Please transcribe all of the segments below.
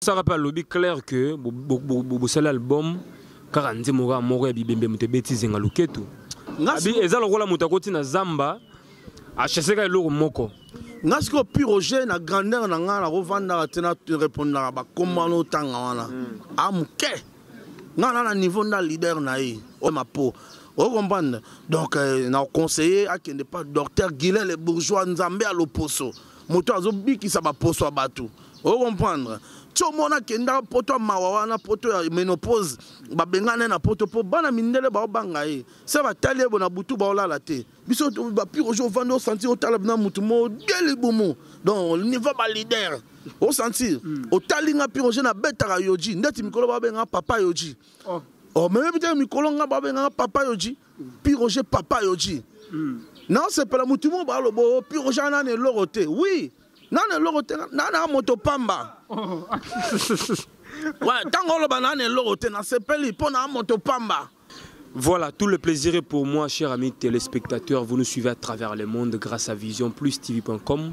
saka mpe alobi claire que bosali album kaka nzembo kaka moko ya bibembe moto ebeti zenga loketu eza lokola moto akoti na zamba achaseka eloko moko nga sikoyo piroge na grandeur na ngai nakovandaka te na repondaka bakombo wana otanga wana hmm. a ah, moke nga na na niveau nda leader na ye oyo mapo oyo comprendre donc euh, na conseiller akende pa docteur guilel bourgeois nzambe ya loposo moto azobikisa baposo ya bato ocomprendre tiomona kenda poto ya mawa wana poto ya menopause babengana na poto mpo bana mindele baobanga ye se batali ye bo na butu baolala te biso bapire ojo ovandi osanti otala na motu modie libumu donc niveau balider osanti mm. otali nga pire oje nabetaka yoji ndeti mikolo babenga papa yoji oh. oh, meyebi te mikolo nga babenga papa yoji piroge papa yoji mm. naosepela motu moko baloba oh, piroge ana na eloko te wi na na eloko te na na moto pamba oh. ntango oloba na na eloko te nasepeli mpo na moto pamba Voilà, tout le plaisir est pour moi, chers amis téléspectateurs. Vous nous suivez à travers le monde grâce à visionplustv.com.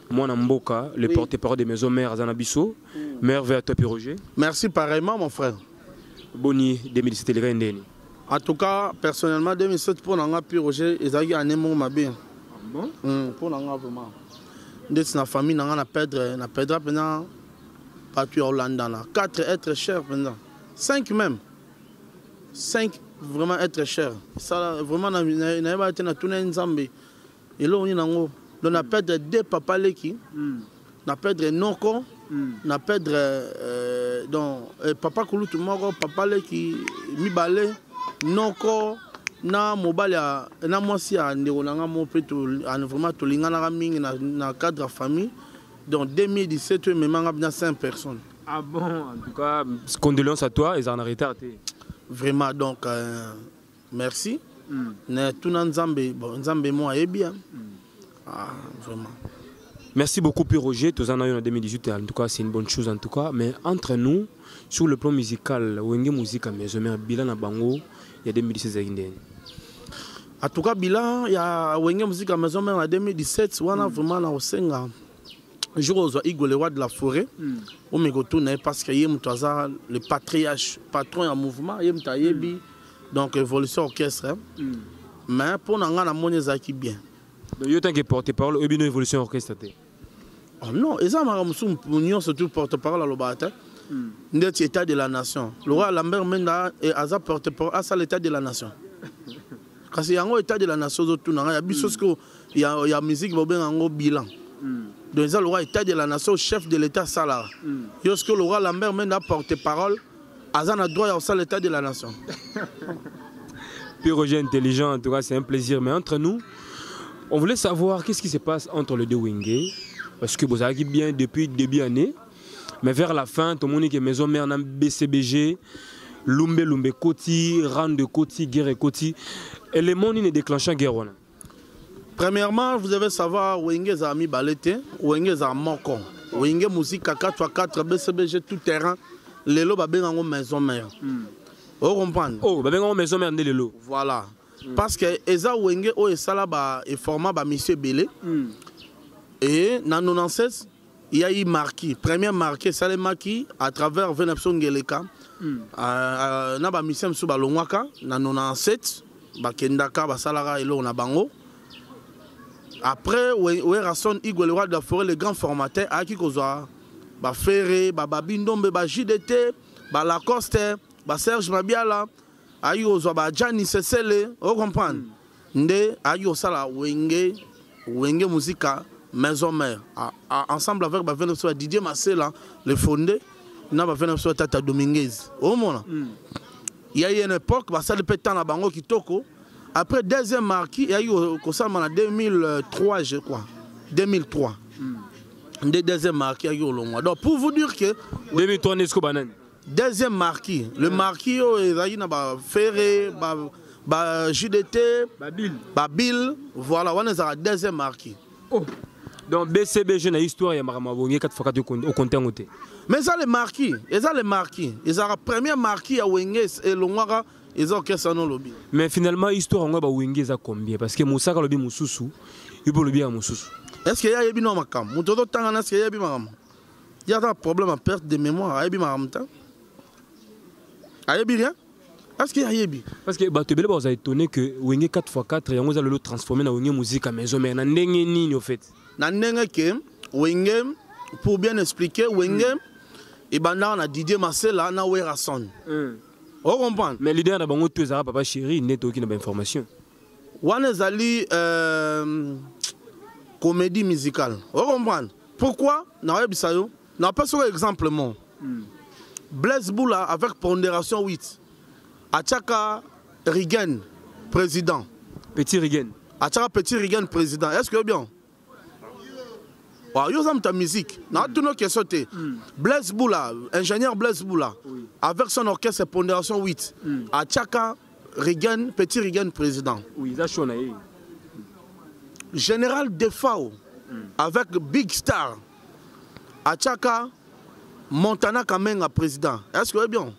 mwana mboka le oui. porte parole de maison mère aza na biso mm. mère vert top roger merci pareillement mon frère boni 2017 elekaki ndeni en tout cas personnellement 2007 mpo na nga pi roger ezalaki année moko mabe ah bon? mm, mpo na nga vraiment ndeti na famille na nga na perdre na perdra mpenza bato ya olandana 4 être cher mpenza 5 même 5 vraiment être cher esala vraiment nayebaki te natuna ye nzambe eloko nini nango donc na perdre deux papa leki mm. na perdre noko mm. na perdre euh, donc euh, papa kulutu moko papa leki mibale noko na mobali na mwasi ya ndeko na ngai moko mpe vraiment tolinganaka mingi na, na cadre ya famille donc 2017 oyo emema ngai na 5 personnes ah bon en tout cas condoléance à toi ezala na retard te vraiment donc euh, merci mm. na tuna nzambe bon, nzambe mo ayebi ya mm. ah, vraiment Merci beaucoup Pierre Roger, tous en 2018 en tout cas c'est une bonne chose en tout cas mais entre nous sur le plan musical Wenge Musica mais je mets bilan à Bango il y a 2016 En tout cas bilan il y a Wenge Musica mais je mets en 2017 on a vraiment na osenga jour ozwa igo le roi de la forêt mm. omekotuna ye parce que ye moto aza le patriarche patron ya mouvement ye moto ayebi mm. donc évolution orchestre hein? mm. mais mpo na ngai namoni ezalaki bien donc yo tant que porte parole oyebi no évolution orchestre te oh non eza maka mosusu nyonso tu porte parole alobaka te hmm. ndeti état de la nation lokola lambert menda eh, aza porte parole asala état de la nation kasi yango état de la nation ozotuna ngai ya biso hmm. sikoyo ya, ya musique bobenga yango bilan hmm. donc eza lokola état de la nation chef de l'état asalaka yo sikoyo lokola lambert menda porte parole mm. aza na droit ya kosala état de la nation Pyrogen intelligent en tout cas c'est un plaisir mais entre nous on voulait savoir qu'est-ce qui se passe entre les deux Wenge parce que bozalaki bien depuis début année mais vers la fin tomoni ke maison mère na BCBG lumbe lumbe koti rande koti guerre koti élément nini déclenchant guerre wana Premièrement, vous devez savoir Wenge za ami balete, Wenge za moko. Wenge musique 4 à 4 BCBG tout terrain. Lelo ba benga ngo maison mère. Mm. Vous comprenez Oh, ba benga ngo maison mère lelo. Voilà. Mm. Parce que eza Wenge o esala ba e format ba monsieur Belé. Mm. Et na 96 Il y a eu marquis, premier marquis esalemaki à travers vena biso ngeleka hmm. euh, euh, na bamisien mosusu balongwaka na 97 bakendaka basalaka eloko na bango après werrason igwe le roi de la forêt le grand formateur ayaki kozwa bafere bababi ndombe bajdt balacoste baserge mabiala ayi kozwa ba jani sesele o comprendre mm. nde ayi kosala wenge wenge musika maison mère a, a, ensemble avec ba vene soit Didier Masela le fondé na ba vene soit Tata Dominguez o mona mm. il y a eu une époque ba sali pe temps na bango kitoko après deuxième marquis il y a eu kosala na 2003 je crois 2003 mm. nde deuxième marquis ya yolongwa donc pour vous dire que 2003 nde sikoyo banani deuxième marquis le marquis oyo ezalaki na bafere ba, ba jdt babile voilà wana ezalaka deuxième marquis oh. donc bcbg na histoire ya makambo abongi kati fakati okonte yango te mais eza le marquis eza le marquis ezalaka premier marquis ya wenge elongwaka eza orchestre no lobi mais finalement histoire yango ya bawenge eza combien parce que mosaka lobi mosusu yo mpe olobi ya mosusu est ce que ye ayebi no makambo moto ozotanga na ce que yeyebi makambo ye aza na problème ya perte de mémoire ayebi makambo te ayebi rien est-ce que ayebi parce que bato ebele bakoza étonné que wenge 4x4 yango eza lelo transformé na wenge muzika maison mère na ndenge nini au fait na ndenge ke wenge pour bien expliquer wenge mm. ebandaka na didier masela na werason mm. ocomprendre mais leader na bango to ezalaka papa chéri nde toyoki na bainformation wana ezali euh, comédie musicale ocomprendre pourquoi nakoyebisa yo napesi oyo exemple mo mm. blaise boula avec pondération 8 atiaka rigen président petit rigen atiaka petit rigen président est ce que bien Ah, yo oza moto ya musique natuna question te hmm. blaise bula ingénieur blaise bula avec son orchestre pondération 8 hmm. atiaka regan petit regan président général defao hmm. avec big star atiaka montana kamenga président est ce que oyebi yango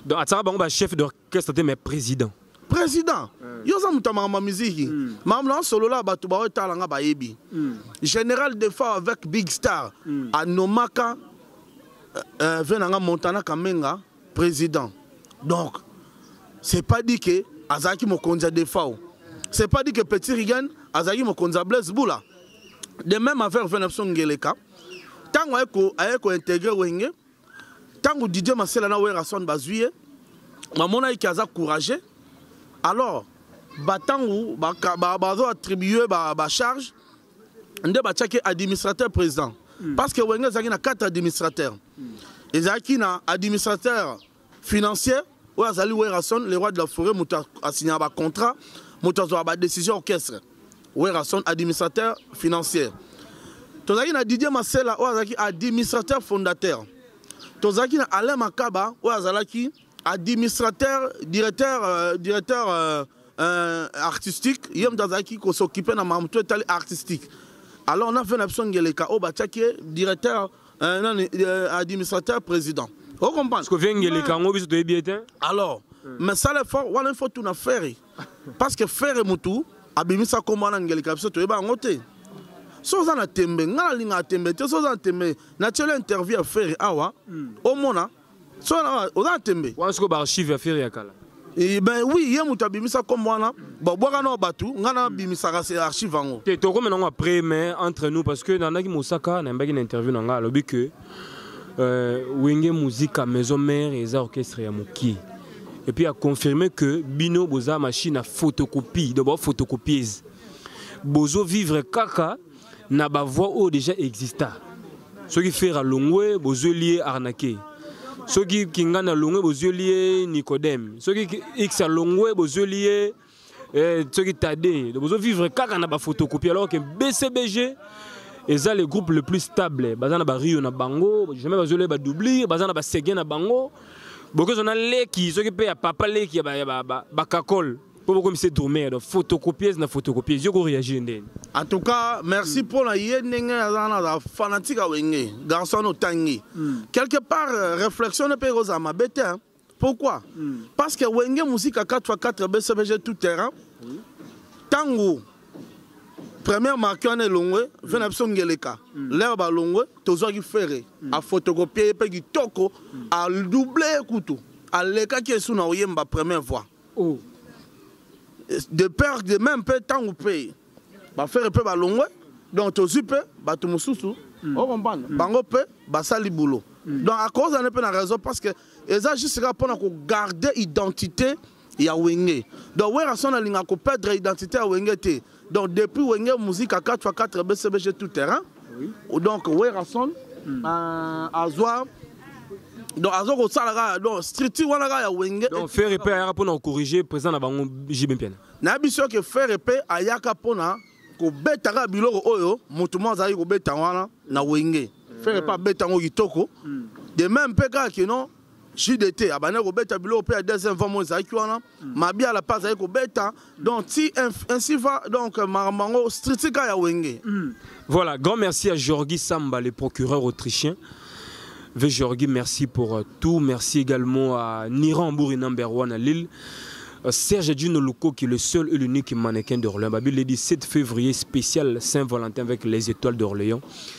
donc atiaka bango bachef Qu'est-ce que tu mais président président mm. yo oza moto ya makambo ya miziki mm. makambo na osolola bato baoyo etala nga bayebi mm. général defa avec big star mm. anomaka euh, euh, ve na nga montana kamenga président donc c'est pas dit que azalaki mokonzi ya defao c'est pas dit que petit rigan azalaki mokonzi ya blaise bula de même affaire ve na biso ngeleka ntango aye kointegre wenge ntango didier masela na werrason bazwi ye bamonaki ke aza courageux alors batango bazo attribue bacharge nde batiaki administrateur président hmm. parce que wenge ezalaki na quatre administrateur hmm. ezalaki na administrateur financier oyo azali werrason le roi de la forêt moto asignaka bacontrat moto azwaka badécision orchestre werrason administrateur financier tozalaki na didier masela oyo azalaki administrateur fondateur tozalaki na alain makaba oyo azalaki administrateur directeur euh, directeur euh, euh, artistique ye moto azalaki kosokipe na mamoto etali artistique alors na ve na biso ngeleka oyo batiaki ye directeur euh, nani euh, administrateur président ocomprendre oh, vienge eleka yango biso toyebi ete alors hmm. mais sala effort wana il faut tuna ferre parce que ferre motu abimisa nkombo wana ngeleka biso toyeba yango te so oza na tembe ngai nalingaka tembe te so oza na tembe natyeli interview ya ferre awa hmm. omona so na oza na tembe wana sikoyo baarchive ya fere ya kala eh, ben oui ye moto abimisa kombo wana babwaka nao bato ngai nabimisaka se archive yango te tokoma nango après mais entre nous parce que nandaki mosaka nayambaki na interview na ngai alobi que euh, wenge muzika maison mère eza orchestre ya mokie et puis aconfirme que bino boza machine ya photocopie donc baphotocopieuse bozo vivre kaka na ba voix oyo déjà exista soki fera longwe bozweli ye arnaquer soki kingani alongwe bozweli ye nicodème soki x alongwe bozweli ye eh, soki tade bozovivre kaka na bafotocopie alors ke bcbg eza le groupe le plus stable baza na bario na bango jamais bazoleye badoublure baza na basege na bango bokozwa na leki soki mpe ya papa leki ya bakakole ba, ba, ba mpo bokomi se domer donc photocopieuse na photocopieuse yo koreagir ndeni en tout cas merci mpo na ye ndenge aza wana aza fanatique ya wenge garçon wana otangi hmm. quelque part euh, réflexion ne mpe ekozala mabe te pourquoi hmm. parce que wenge musika 4x4 bcbg tout terrain ntango première marque wana elongwe ve na biso ngeleka hmm. lere balongwe tozwaki fere afotokopie ye mpe kitoko adouble kutu alekaki esu na oyemba première voix oh. de père de même mpe ntango mpe bafere mpe balongwe donc tozwi mpe bato mosusu mm. okomprendre mm. bango mpe basali boulot mm. donc akozana mpe na raison parce que eza juste kaka mpona kogarde identité ya wenge donc werrason alingaka koperdre identité ya wenge te Donc depuis Wenge Musica 4 x 4 BCBG tout terrain. Oui. Donc Werrason mm. euh, azwa donc aza kosala kaka donc structure wana kaka ya wenge donc faire epe ayaka mpona kocorrige président na bango jb mpiana na biso ke faire epe ayaka mpona kobeta kaka biloko oyo moto moko azalaki kobeta wana na wenge faire epe abeta yango kitoko hmm. de même mpe kaka kino JDT abandaki kobeta biloko mpe ya deuxième vent moyo ezalaki wana mm. mabiala mpe azalaki kobeta mm. donc ti ainsi va donc makambo yango stritika ya wenge mm. voilà grand merci à Georgi Samba le procureur autrichien Ve Georgi merci pour euh, tout merci également à Niran Bouri number 1 à Lille euh, Serge Gino Luko qui est le seul et l'unique mannequin d'Orléans. Babi l'a dit 7 février spécial Saint-Valentin avec les étoiles d'Orléans.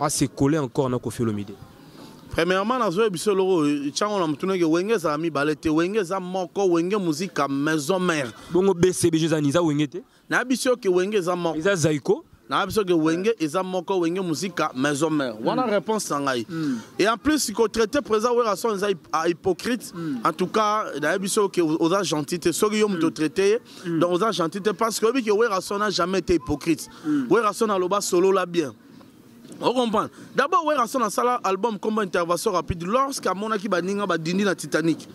a se coller encore na Koffi Olomide premièrement nazoyebisa eloko ntango na motunaki wenge ezala mibale te wenge eza moko wenge muzika maison mare bongo bcbg eza nini eza wenge te na biso oke wenge eza moko eza zaiko na biso ke wenge eza moko wenge muzika maison mare wana mm. réponse na ngai mm. et en plus kotraite président werason eza hypocrite mm. en tout cas nayebi soki oza gentil te soki yo moto otraite ye mm. mm. donc oza gentil te parce que oyebi ke werrason a jamais été hypocrite mm. werrason aloba solola bien ocomprendre d'abord werrason asala album combo intervention rapide lorsque amonaki baninga badindi na titanic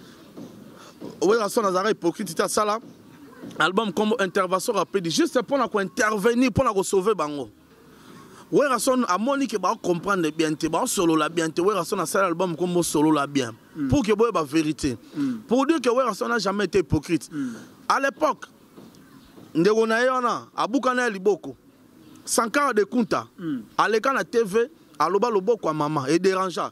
werrason azalaka hypocrite te asala album combo intervention rapide juste mpo na kointervenir mpo na kosauve bango Werrason amoni ke ba comprendre bien te ba solola bien te Werrason asala album kombo solola bien mm. pour que boye ba vérité mm. pour dire que Werrason n'a jamais été hypocrite mm. à l'époque ndeko na ye wana abukana ya liboko sankara de kunta mm. aleka na tv aloba loboko ya mama e derangea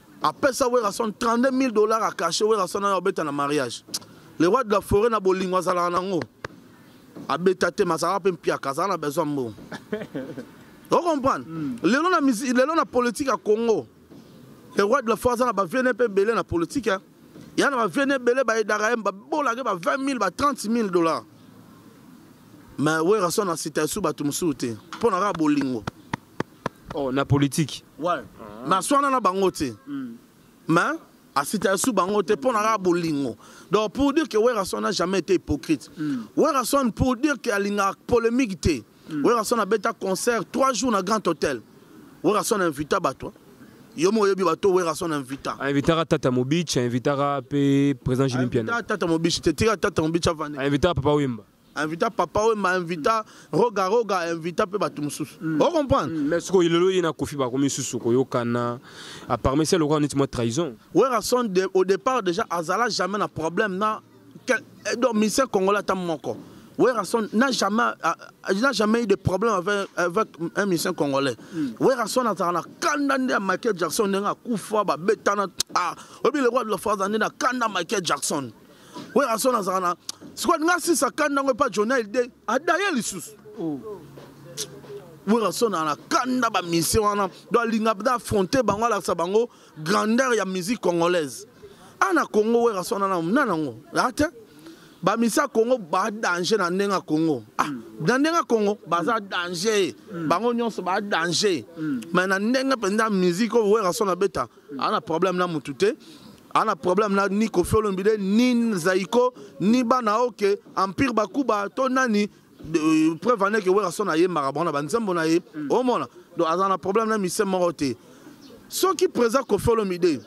apesa werrason 32 000 dollars akache werrason ayo abeta na mariage le roi de la forêt na bolingo azalaka nango abeta te mazalaka mpe mpiaka azala na besoin mbongo ocomprendre hmm. lelo na lelo na politique ya congo le roi de la forêt aza na baviene mpe ebele na politique hein. ya na baviene ebele bayedaka ye babolake ba 20 000 ba 30 000 dollars mais werrason asita esu bato mosusu te mpo na kaka bolingo oh, na politiki ouais. ah. naswana na bango te mm. mais asita sous bango te mpo na kaka bolingo donc pour dire que werrason n'a jamais été hypocrite mm. werrason pour dire que alingaka polémique te mm. werrason abeta concert trois jours na grand hôtel werrason invita bato yo moko oyebi bato werrason invita ainvitaka tata mobich ainvitaka mpe président jimpiana tata mobich te tika tata mobich avandi ainvitaka papa wemba invita papa wemba invita roga roga invita mpe bato mosusu mm. o comprendre mm, mais sikoyo lelo ye na kofi bakomi lisusu koyokana aparmi se lokola neti mwa trahison werason de, au départ déjà azala jamais na problème na eh, donc musicien congolais ata moko Werrason n'a jamais, euh, n'a jamais eu de problème avec, avec un musicien congolais. Mm. Werrason a na kanda nde ya Michael Jackson ndenge akufa babetana ah obi le roi de la France ande na kanda Michael Jackson. werrason azalaka na sikoyo alinga asisa kanda yango epa jona elde adaye lisusu oh. werrason ana kanda bamisie wana do alinga da affronte bango alakisa bango grandeur ya musique congolaise ana congo werrason ana na nango ate bamisie ya congo badanger na ndenge ya congo ah, mm. na ndenge ya congo baza mm. danger mm. bango nyonso badanger mm. mai na ndenge mpenza musique oyo werrason abeta aza na problème na mutu te aza na problème na ni kofi olomide ni zaiko ni bana oyo ke empire bakuba to nani euh, preuve ane ke werrason ayembaka bango na banzembo na ye mm. omona donc aza na problème na mise moko te soki président kofi olomide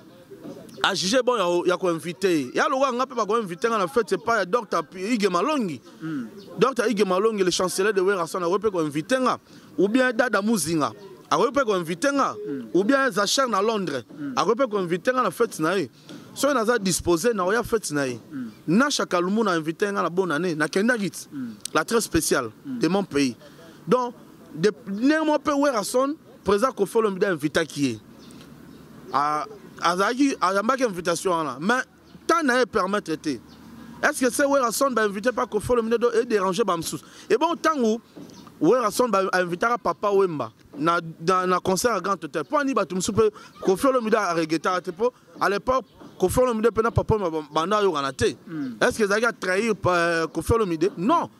ajuge bon ya, ya koinvite ye ya lokola nga mpe bakoinvite nga na fete epai ya docteur ige malongi mm. docteur ige malongi le chancelier de werrason akoki mpe koinvite nga ou bien dada muzinga akoki mpe koinvite nga hmm. ou bien zacher na londres hmm. akoki mpe koinvite nga na fete na ye soki naza dispose nakoya fete na ye hmm. nasha kalumu na invite nga na bonne année nakendaki ti la très spéciale de mon pays donc ndenge moko mpe werrason président kofi olomide ainvitaki ye azalaki ayambaki invitation wana mais temps na ye permettre te est ce que se werrason bainvite mpa kofolo minedo edérange bamosusu ebongo ntango werrason bainvitaka papa wemba na, na, na concert ya grand hôtel mpo ani bato mosusu mpe kofi olomide aregetaka te mpo à l'époque kofi olomide mpe na papa wemba banda ayokana te hmm. est ce que ezalaki atrahir euh, kofi olomide non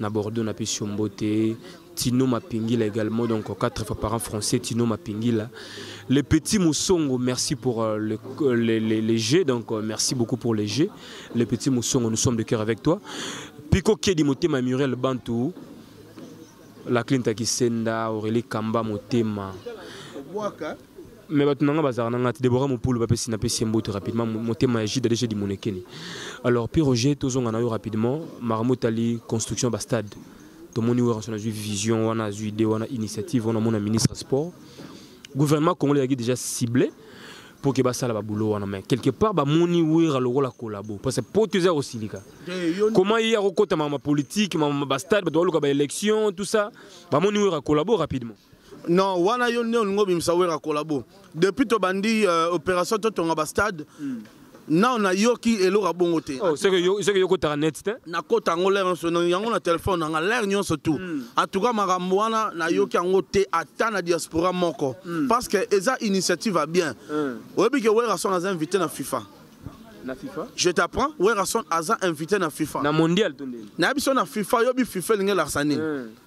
na Bordeaux na pesi mbote Tino Mapingila également donc quatre fois par an français Tino Mapingila les petits Moussongo merci pour euh, le, euh, les, les, les jeux donc euh, merci beaucoup pour les jeux les petits Moussongo nous sommes de cœur avec toi Pico Kedi Motema Muriel Bantou la Clinta Kisenda Aurélie Kamba Motema Waka. mais bato na nga bazalaka na nga te debora mopulu bapesi napesi ye mboto rapidement motema ya jude adeshe dimonekeni alors pi roger tozonga na yo rapidement makambo etali construction ya bastade tomoni weranson azwi vision wana azwi idée wana initiative wana mona ministre ya sport gouvernement congolais ezalaki déjà ciblé mpo ke basala babulo wana mai quelque part bamoni wera lokola kolabo parce poto eza kosilika comment ye akokota mama politique mama bastade bato baluka baélection tout ça bamoni wera kolabo rapidement non wana yo nde olingi obimisa wera kolabo depuis tobandi euh, opération totonga bastade mm. nao nayoki eloko ya bongo te oh, soki yokotaka net te nakota yango lere nyonso yango na telefone nanga lere nyonso tu hmm. atuka makambo wana nayoki yango te ata na diaspora moko hmm. parce que eza initiative ya bien hmm. oyebi ke werason aza invité na fifa na FIFA Je t'apprends, Werrason Aza invité na FIFA. Na mondial tondeli. Na biso na FIFA, yobi FIFA linge larsani. Mm.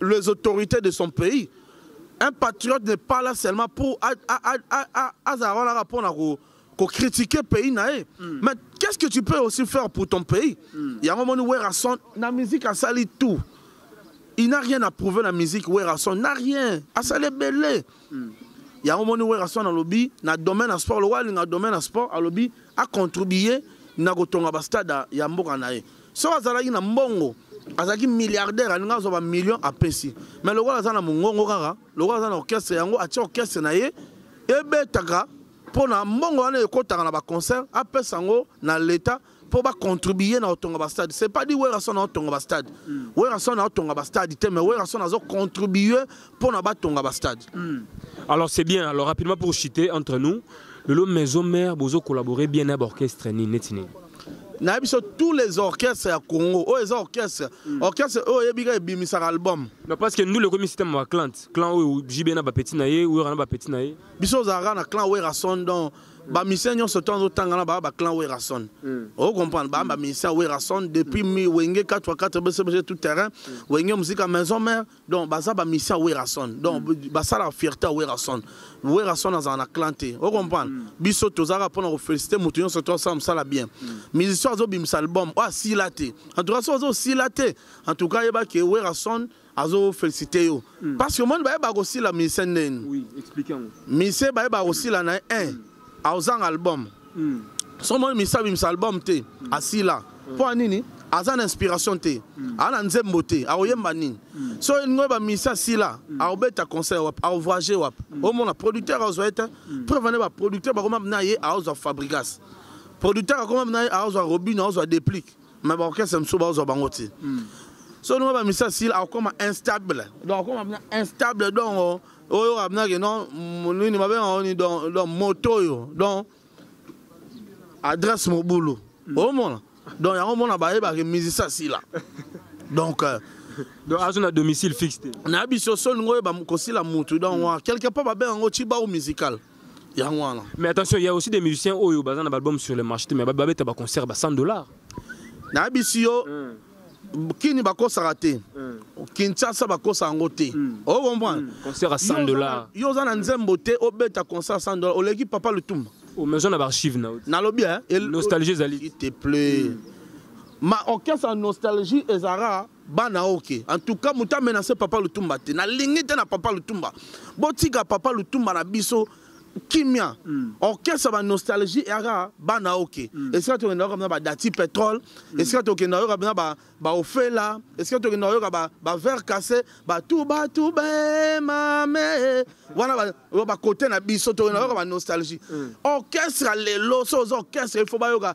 les autorités de son pays un patriote n'est pas là seulement pour azala wana kaka mpona kocritiquer pays na ye mm. mais qu'est-ce que tu peux aussi faire pour ton pays mm. yango omoni werrason na musique asali tout il n'a rien à prouver na musique werrason na rien asali ebele mm. Hmm. yango moni werrason alobi na domaine ya sport lokola alinga domaine ya sport alobi acontribue na kotonga bastade ya mboka na ye soki azalaki na mbongo azalaki milliardaire alinga azwa bamillion apesi mais lokola aza na mongongo kaka lokola aza na orchestre yango atia orchestre na ye ebetaka mpo na mbongo wana ekotaka na baconcert apesa yango na leta mpo bacontribue na kotonga bastade c'est pas dit werrason aotonga bastade mm. werrason aotonga bastade te mais werrason azocontribue mpo na batonga bastade mm. alors c'est bien alors rapidement pour chiter entre nous lelo maison mère bozo collaborer bien na baorchestre nini neti nini nayebi biso tous les orchestres ya congo oyo eza orchestre mm. orchestre oyo oyebi kaka ebimisaka album non parce que ndule ekomi système ya clan clan oyo jb na bapetit na ye wera na bapetit na ye biso ozalaka na clan werason donc ba musiciens nyonso to azotanga na ba clan Werrason hmm. o comprendre ba ba musiciens Werrason depuis mi wenge 4 fois 4 BCBG tout terrain hmm. wenge musique à maison mère donc baza ba musiciens Werrason donc hmm. ba sala fierté à Werrason Werrason azana na clan te o comprendre biso tozaka pona ko féliciter mutu nyonso to asala musala bien musicien azo bimisa album o asila te en tout cas so azo sila te en tout cas yeba ke Werrason azo felicite yo mm. parce que omoni bayeba kosila mise ndeni oui, mise bayeba kosila na ye un mm. aozanga album mm. so omoni mise abimisa album te mm. asila mm. mpo ya nini aza na inspiration te mm. aza na nzembo te akoyemba mm. nini mm. so elingi oyeba mise asila mm. akobeta concert wapi akovoyage wapi mm. omona producteur aozwa ye te mm. preuve ane baproducteur bakoma na ye aozwa fabrigas producteur akoma na ye aozwa robino aozwa déplique mais baorchestre mosusu bazwa bango ti hmm. so ndenge bamisa sila akokoma instable donc akokoma bina instable donc oh, oyo abinaki non nini babenga oni donc moto oyo donc adresse mobulu hmm. omona donc yango omona bayebaki musicien sila donc euh, donc azo na domicile fixe te na biso so olingi oyeba kosila mutu donc hmm. quelque part babenga yango cibau musical yango wana mais attention il y a aussi des musiciens oyo baza na baalbum sur le marché mais babeta baconcert ba 100 dollars nayebisi yo mm. kini bakosaka te mm. kinshasa bakosa yango te mm. okomprendre mm. concert à 100 dollars yo oza na nzembo te obeta concert à 100 dollars oleki papa lutumba omezo na baarchive na nalobi nostalgie ezali te plaît mm. ma orchestre ya nostalgie ezalaka bana ok en tout cas moto amenase papa lutumba te nalingi te na papa lutumba botika papa lutumba na biso kimia mm. orchestre ba nostalgie eyaka bana oke mm. esika tokenda yoka bina badati pétrole mm. esika tokenda yoka bina baofela esika tokenda yoka bavert cassé batubatubemame wana bakote na biso tokenda yoka banostalgie mm. orchestre lelo so oza orchestre il faut bayoka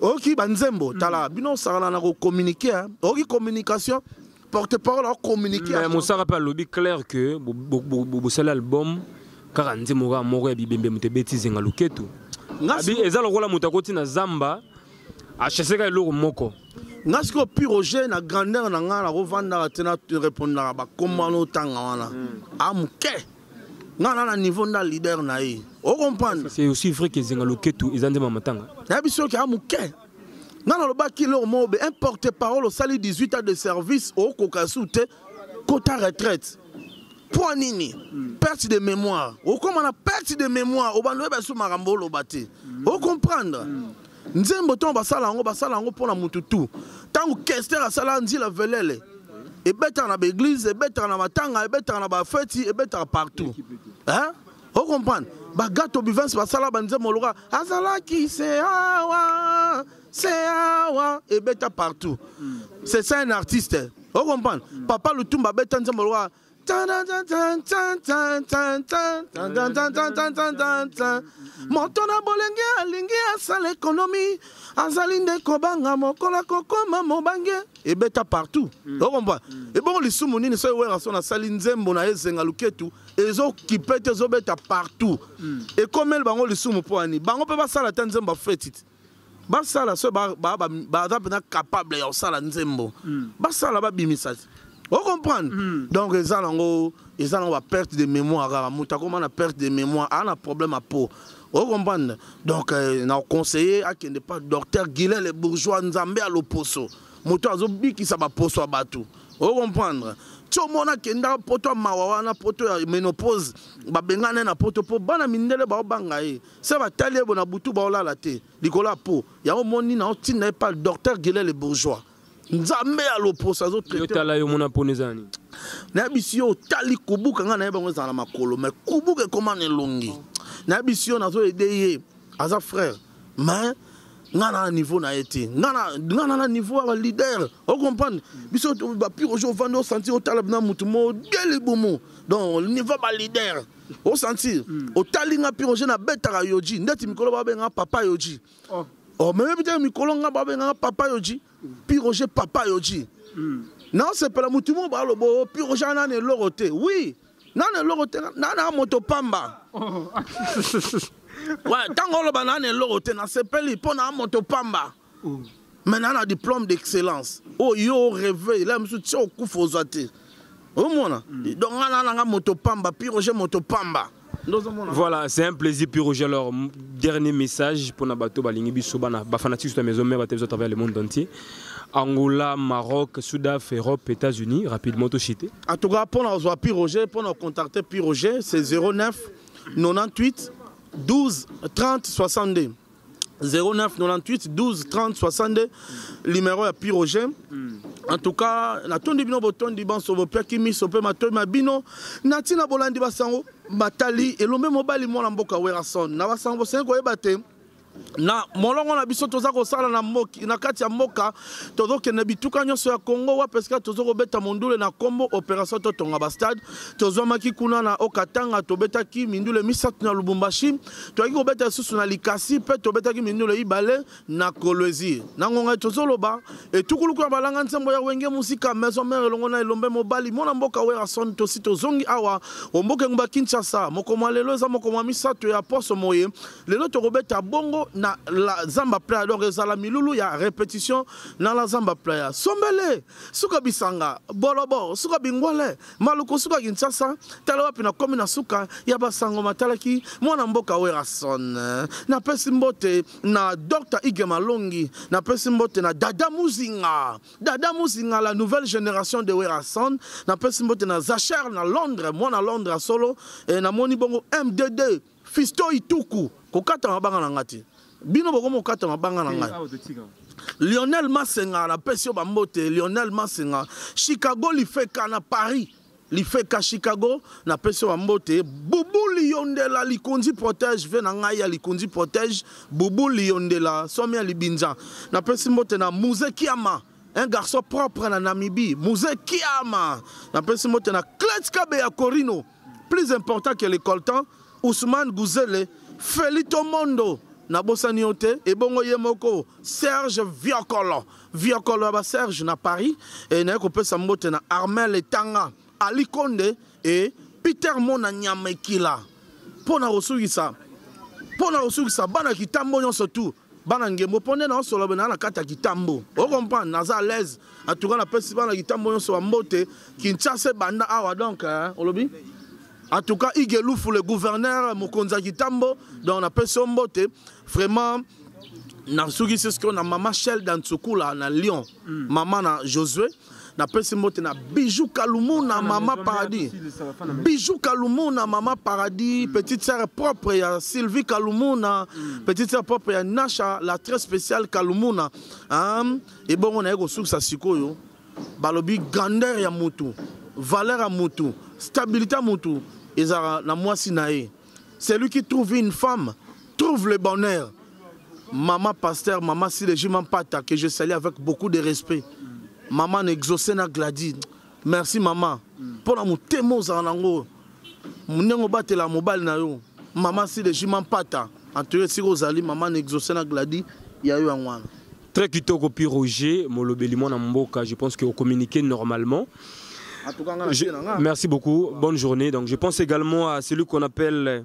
oyoki banzembo tala mm. bino osakana na kocommunike oyoki communication porte parole acommunike mais mosaka mpe alobi claire que bosali album kaka nzembo kaka moko ya bibembe moto ebeti zenga loketu eza lokola moto akoti na zamba acheseka eloko moko nga sikoyo pi roger na grandeur na ngai nakovandaka te na repondaka bakomano otanga wana mm. a ah, moke nga na na niveau nda leader na ye o comprendre c'est aussi vrai que zenga loketu eza nzema matanga na biso ke amuke nga na lobaki lor mobe un porte parole osali 18 ans de service o koka su te kota retraite mpo nini hmm. perte de mémoire okoma na perte de mémoire obanda oyeba su makambo oloba te hmm. o comprendre hmm. nzembo ntango basala yango basala yango mpo na motu tu ntango kester asala nzila velele ebetaka na baeglize ebetaka na matanga ebetaka na bafeti ebetaka partout hein? ocomprendre bagato bivens basala banzembo loka azalaki se awa se awa ebeta partout c'est ça un artiste ocomprendre papa lutumba abeta nzembo loka moto na bolenge alingi asala ekonomi azali nde kobanga mokolo akokoma mobange ebeta partout hmm. okompa hmm. ebongo lisumu nini soki werrason asali nzembo na ezenga luketu ezokipe te ezobeta partout hmm. ekomeli bango lisumu mpo ani bango mpe basala ata nzembo afeti te basala so baza mpena capable ya kosala nzembo hmm. basala babimisa ocomprendre hmm. donc eza nango eza nango baperte de mémoire kaka moto akoma na perte de mémoire aa na problème ya po ocomprendre donc euh, na conseiller akende pa docteur guilin le bourgeois nzambe ya loposo moto azobikisa baposo ya bato ocomprendre tio mona akenda poto ya mawa wana poto ya ménopause babengana ye na poto mpo bana mindele baobanga ye se batali ye bona butu baolala te likolo ya po yango moni na otinda ye pa docteur gile le bourgeois nzambe ya loposo azotala yo mona mpona eza nini nayebisi yo otali kubuka ngai nayebi yango ezala na makolo mai kubuka ekoma na elongi nayebisi yo nazoyede ye aza frère mais nga na niveau na ye te nga na na niveau ya baleader ocomprendre biso bapire ojo ovandi osanti otala bina motu modeli bomo donc niveau ya baleader o sentir mm. otali nga pire je nabetaka yoji ndeti mikolo babenga papa yoji oh. oh, meyebi te mikolo nga babengaka papa yoji mm. pire oje papa yoji mm. naosepela motu moko balobo oh, pire oje anana eloko te oui nana eloko te nana moto pamba oh. ntango oloba nana eloko te nasepeli mpo na moto pamba maintenant na diplôme d'excellence oyo yo oreve ela mosusu ti okufa ozwa te omona mm. donc nga nana nga moto pamba piroge moto pamba Voilà, c'est un plaisir pour Roger. Alors, dernier message pour Nabato Balingi Bisobana, Bafanatis de la maison mère à travers le monde entier. Angola, Maroc, Sudaf, Europe, États-Unis, rapidement tout chité. En tout cas, pour nous avoir Pierre Roger, pour nous contacter Pierre Roger, c'est 09 98 12 30 62. 0998 12 30 62 limero ya piroge mm. en tout cas natondi bino botondi banso bopiaki miso mpe matoi ma bino na ntina bolandi basango batali elombe mobali mwana mboka werason na basango bosengi koyeba te na molongo na biso toza kosala na, moki, na kati ya mboka tozokende bituka nyonso ya congo wapi esika toza kobeta mondule na nkombo opération totonga bastade tozwamaki kuna na okatanga tobetaki mindule misato na lubumbashi toyaki kobeta lisusu na likasi mpe tobetaki mindule ibale na kolwezi na ngonga tozoloba etukuluku ya balanga nsembo ya wenge mosika maison mare elongo na elombe mobali mwana mboka werason tosi tozongi awa omboka engumba kinshasa moko mwa lelo eza moko mwa misato ya poso moye lelo tokobeta bongo na la zamba playa donc ezala milulu ya repetition na la zamba playa sombele suka bisanga bolobo suka bingwale Maluku suka Kinshasa, tala wapi na komi na suka ya basango matalaki mwana mboka Werrason. Na pesi mbote na Dr Igwe Malongi, na pesi mbote na Dada Muzinga. Dada Muzinga la nouvelle génération de Werrason, na pesi mbote na Zacher na Londres, mwana Londres solo, eh, na moni bongo MDD Fisto Ituku, kokata mabanga na nga te. Bino bokomi kokata mabanga na nga. Lionel Masenga na pesi yo bambote. Lionel Masenga, Chicago lifeka na Paris. lifeka chicago na pesi yo bambote bubu liyondela likonzi protège ve na ngai ya likonzi protège bubu liyondela somi ya libinza na pesi mbote na muze kiama un garçon propre na namibie muze kiama na pesi mbote na cletskabe ya corino Plus important que le coltan, Ousmane Guzele, Felito Mondo, nabosani yo te ebongo ye moko serge viokolo viokolo ya baserge na paris e, naye kopesa mbote na armel etanga ali konde e peter mona nyama ekila mpo na kosukisa mpo na kosukisa bana kitambo nyonso tu bana ngembo mpo nde naosolobe naa na kati ya kitambo okomprendre naza alaise En tout cas, la peste bana kitambo yonso wa mbote, Kinshasa banda awa donc, hein, olobi? En tout cas, Igelufu, le gouverneur, Mokonza Kitambo, dans la peste mbote, vraiment, nasukisi sikoyo na mama shel dantsukula na lyon mm. mama na josué napesi mbote na bijou kalumu na mama paradis bijou kalumu na mama paradis mm. petite sœur propre ya sylvie kalumu na mm. petite sœur propre ya nasha la très spéciale kalumuna hein? ebongo naye kosukisa sikoyo balobi grandeur ya mutu valeur ya mutu stabilité ya mutu ezalaka na mwasi na ye celui qui trouve une femme trouve le bonheur mama pasteur mama silejima mpata que je salie avec beaucoup de respect mama na exauce na gladine merci mama mpo na motema ozala nango ndenge obatela mobali na yo mama silejima mpata antoye esika ozali mama na exauce na gladi ya yo yango wana très kitoko pi roger molobeli mwana mboka je pense que ocommunique normalement je... merci beaucoup bonne journée donc je pense également à celui qu'on appelle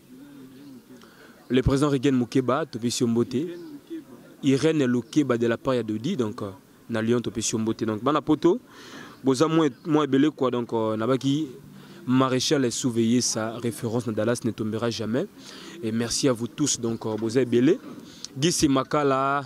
Le président Regen Mukeba, Topesio Mbote, Irène Lukeba de la part ya Dodi, donc euh, na Lyon Topesio Mbote. Donc bana poto, boza moi moi belé quoi donc euh, nabaki maréchal est surveillé sa référence na Dallas ne tombera jamais. Et merci à vous tous donc euh, boza belé. Gisi Makala